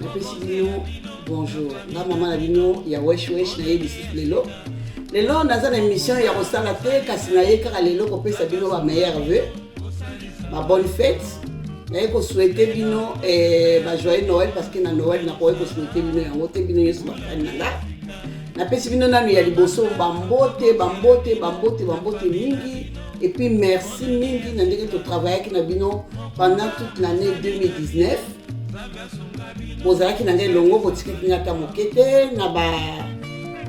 napesi bino bonjour nga mama na bino ya wesh wesh naye lisusu lelo lelo naza na émission ya kosala te kasi naye kaka lelo kopesa bino ba meilleur vue ba bonne fête naye kosouhaite bino eh, ba joyeux noël parce que na noël nakoki kosouhaite bino yango te bino nyonso bafani na nga napesi bino nanu ya liboso bambote bambote bambote bambote mingi et puis merci mingi na ndenge totravaillaki na bino pendant toute l'année 2019 bozalaki na ngai elongo botikaki ngai ata moke te na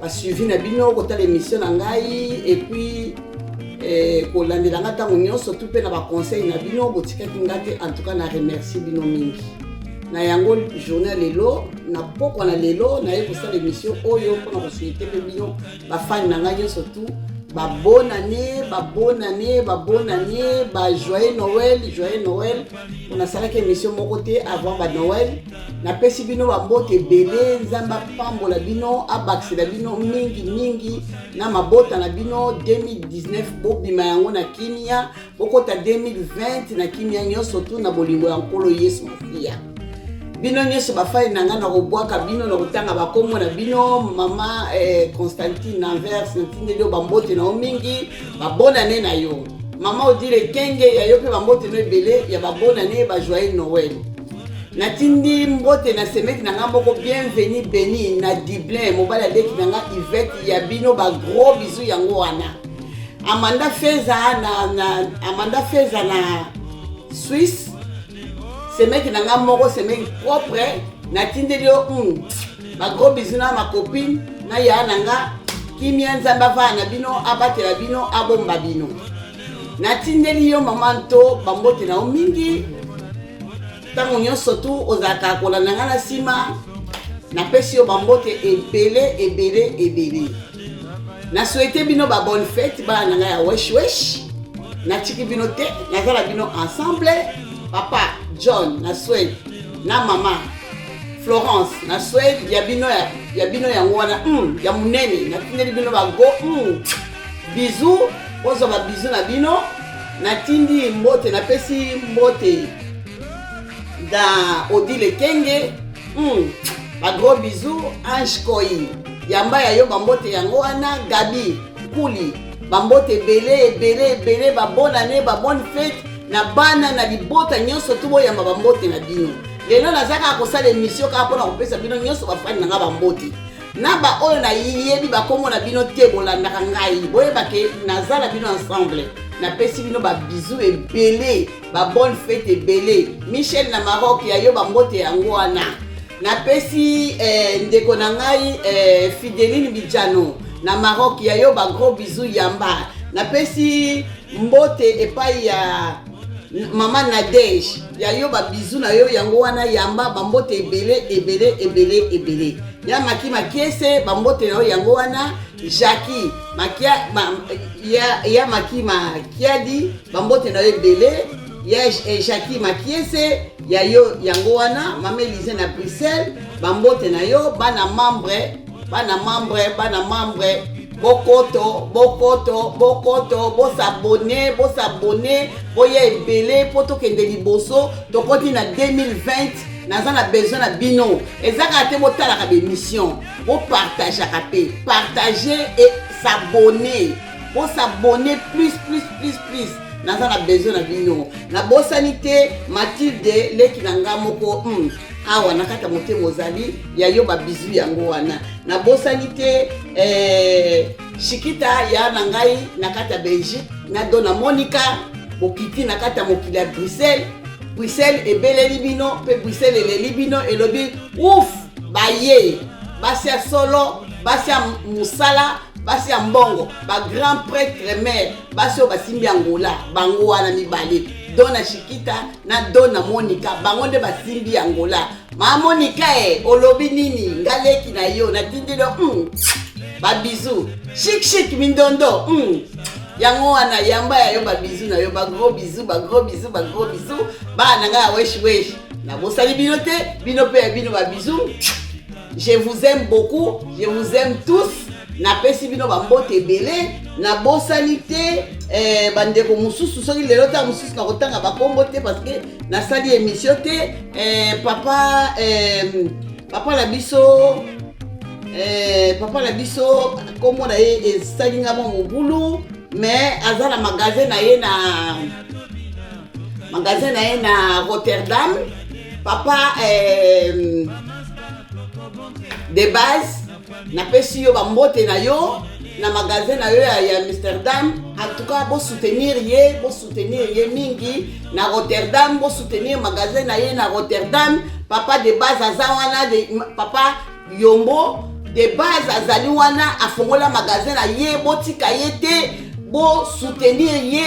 basuivi na bino kotala émission na ngai epuis eh, kolandela ngai ntango nyonso tu mpe na baconseil na bino botikaki ngai te en tout cas na remercie bino mingi na yango journée ya lelo na pokwa na lelo naye kosala émission oyo mpona kosuete mpe bino bafani na ngai nyonso tu babonane babonane babonane bajoyeux noel joyeux noel nasalaki émission moko te avant banoel napesi bino bambote ebele nzambe apambola bino abakisela bino mingi mingi na mabota na bino 2019 bobima yango na kimia bokota 2020 na kimia nyonso tu na bolingo ya nkolo yesu masiya bino nyonso bafani na ngai nakobwaka bino na kotanga bakombo na bino mama eh, constantine anvers natindeli yo bambote na yo mingi babonane na yo mama odile kenge ya yo mpe bambote na ebele ya babonane bajoyel noel natindi mbote na semeki na ngai moko bienveni beni na dublin mobali aleki na ngai ivete ya bino bagros bizu yango wana Amanda Feza na, na Amanda Feza na Suisse semeki na nga moko semeki propre natindeli yo mm, ba gros bisous na ma copine na ya na nga kimia nzambe avaa na bino abatela bino abomba bino natindeli yo mama nto bambote na yo mingi ntango nyonso tu ozalaka kolanda ngai na nsima napesi yo bambote ebele ebele ebele na souhaite bino ba bonne fete bana na ngai ya wesh wesh natiki bino te naza na bino ensemble papa john na swede na mama florence na swede ya bino ya, ya bino yango wana mm, ya monene natindeli bino bago mm, bizu bozwa babizu na bino natindi mbote napesi mbote na odile kenge Hmm. Ba gros bisous Ange Koi. Yamba ya yo bambote yango wana Gabi Kuli. Bambote ebele ebele ebele ba bonne année ba bonne fête na bana na libota nyonso tu boyamba bambote na bino. Lelo naza kaka kosala emission kaka mpo na kopesa bino nyonso bafani na nga bambote. Na baoyo nayebi bakombo na bino te bolandaka ngai boyeba ke naza na bino ensemble. Napesi bino ba bisous ebele. ba bonne fete ebele michel na maroc ya yo bambote yango wana napesi eh, ndeko na ngai eh, fideline bijano na maroc ya yo bagros bizu yamba napesi mbote epai ya mama nadege ya yo babizu na yo yango wana yamba bambote ebele ebele ebele ebele ya maki makiese bambote na yo yango wana jacki makia ma, ya, ya maki makiadi bambote na yo ebele ya ejaki makiese ya yo yango wana mama elize na bruxelles bambote na yo bana membre bana membre bana membre bokoto bokoto bokoto bosabone bosabone boya ebele mpo tokende liboso tokoti na 2020 naza na besoin na bino ezaka te botalaka bemission bopartageaka te partage e sabone bosabone plus plus plus plus naza na besoin na bino nabosani te matilde leki na nga moko hmm. awa na kati ya motema ozali ya yo babizu yango wana nabosani te eh, shikita ya na ngai na kati ya belgique na dona monika bokiti na kati ya mokili ya bruxelles bruxelles ebeleli bino mpe bruxelles eleli bino elobi ouf baye basi ya solo basi ya mosala basi ya mbongo ba grand pretre mare basi oyo basimbi angola bango wana mibale dona shikita na dona monika bango nde basimbi angola ma monika e olobi nini nga leki na yo natindeli yo mm. babizu shikshik mindondo mm. yango wana yamba ya yo babizu na yo bagros bizu bagros bizu bagros bizu bana nga ya wesh wesh nabosani bino te bino mpe ya bino babizu je vous aime beaucoup je vous aime tous napesi bino bambote ebele nabosani te eh, bandeko mosusu soki lelo ntango mosusu nakotanga bakombo te parce que nasali émission te eh, papa eh, papa na biso eh, papa na biso nkombo na ye esali nga mwa mobulu mais aza na magasin na ye na magasin na ye na rotterdam papa euh, de base napesi yo bambote na yo na magasin na yo ya, ya amsterdam antuka bosoutenir ye bosoutenir ye mingi na rotterdam bosoutenir magasin na ye na rotterdam papa de base aza wana de, papa yombo de base azali wana afongola magasin na ye botika ye te bosoutenir ye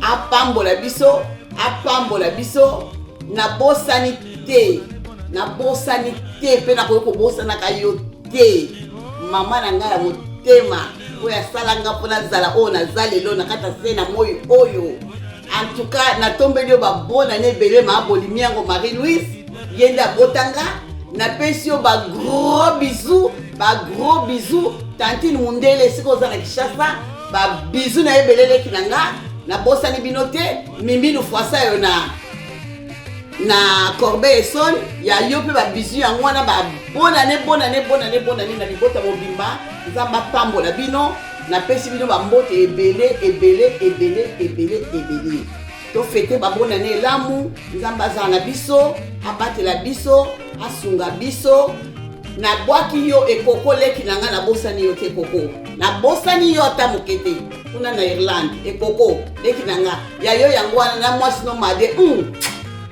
apambola biso apambola biso nabosani te nabosani te mpe nakoki kobosanaka yo te mama na ngai ya motema oyo asala nga mpo nazala oyo naza lelo na kati ya se na moi oyo antuka natombeli yo babona na ebele maa bolimi yango marie louise ye nde abotanga napesi yo bagros bisou bagros bisou tantine mundele esika oza na kishasa ba bisous na ebele leki na nga nabosani bino te miminu fwasa yo na na corbeille son ya yo mpe ba bisous yango wana ba bonane bonane bonane bonane na libota mobimba nzambe apambola bino napesi bino bambote ebele ebele ebele ebele ebele To fete ba bonne année elamu. Nzambe azala na biso, abatela biso, asunga biso. Nabwaki yo ekoko leki na ngai nabosani yo te koko. Nabosani yo ata moke te. Kuna na Irlande, ekoko leki na ngai. Ya yo yango wana na mwasi no made. Mm.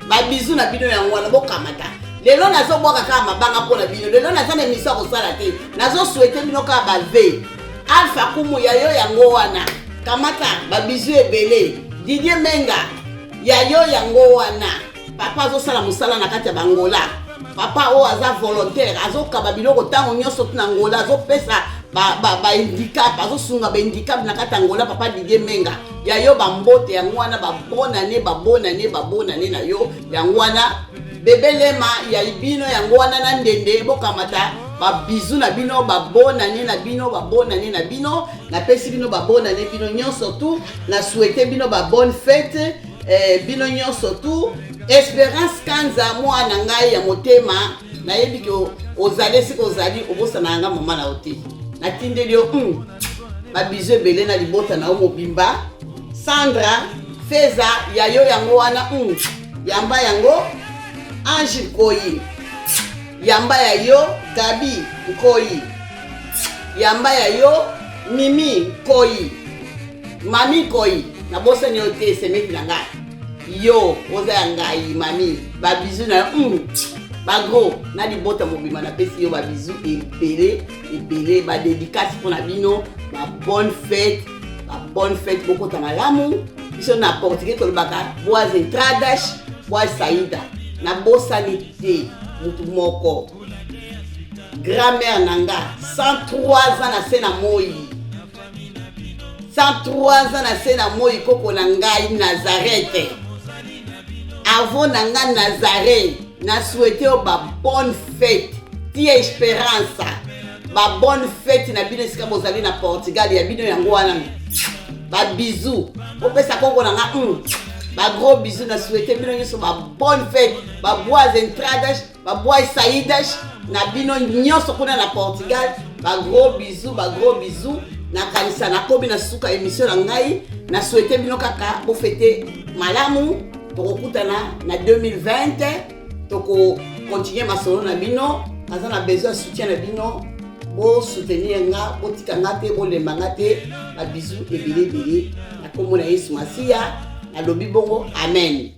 Ba bisous na bino yango wana bokamata. Lelo nazobwaka kaka mabanga mpo na bino. Lelo naza na emission ya kosala te. Nazoswete bino kaka ba vie. Alpha Kumu ya yo yango wana. Kamata ba bisous ebele. Didier Menga ya yo yango wana. Papa azosala mosala na kati ya bangola. Papa oyo aza volontaire azokaba biloko ntango nyonso ti na ngola azopesa bahandicap azosunga bahandicap na kati ya ngola papa Didier Menga ya yo bambote yango wana babonane babonane babonane na yo yango wana Bebe Lema ya ibino yango wana na ndende bokamata babizu na bino babonane na bino babonane na bino napesi bino babonane bino nyonso tu na souhaite bino babonne fete eh, bino nyonso tu esperance kanza mwana ngai ya motema nayebi ke ozali esika ozali obosana yanga mama na yo te natindeli yo mm, babizu ebele na libota na yo mobimba sandra feza ya yo yango wana mm. Yamba yango Ange Nkoyi. Yamba ya yo Gabi Nkoyi. Yamba ya yo Mimi Nkoyi. Mami Nkoyi, nabosani yo te semeki na ngai. Yo oza ya ngai mami, ba bisous na yo. Mm. bagro na libota mobima napesi yo babizu ebele ebele badedikasi mpo na bino ba bonne fete ba bonne fête bokota malamu biso na portugais tolobaka boas entradas boas saida nabosani te motu moko grand-mère na nga 103 ans na se na moi 103 ans na se na moi koko na ngai nazarete avant na nga nazare na souhaite yo ba bonne fête ti esperança ba bonne fete na bino esika bozali na portugal ya bino yango wana ba bisou opesa koko na nga mm. ba gros bisou na souhaite bino nyonso ba bonne fete ba bois entradas ba bois saidas na bino nyonso kuna na portugal ba gros bisou ba gros bisou nakanisa nakomi na suka emission na ngai na souhaite bino kaka bofete malamu tokokutana na 2020 toko continuer masolo na bino naza na besoin ya soutien na bino bosoutenir nga botika nga te bolemba nga te babizu ebele ebele na nkombo na yesu masiya nalobi bongo amen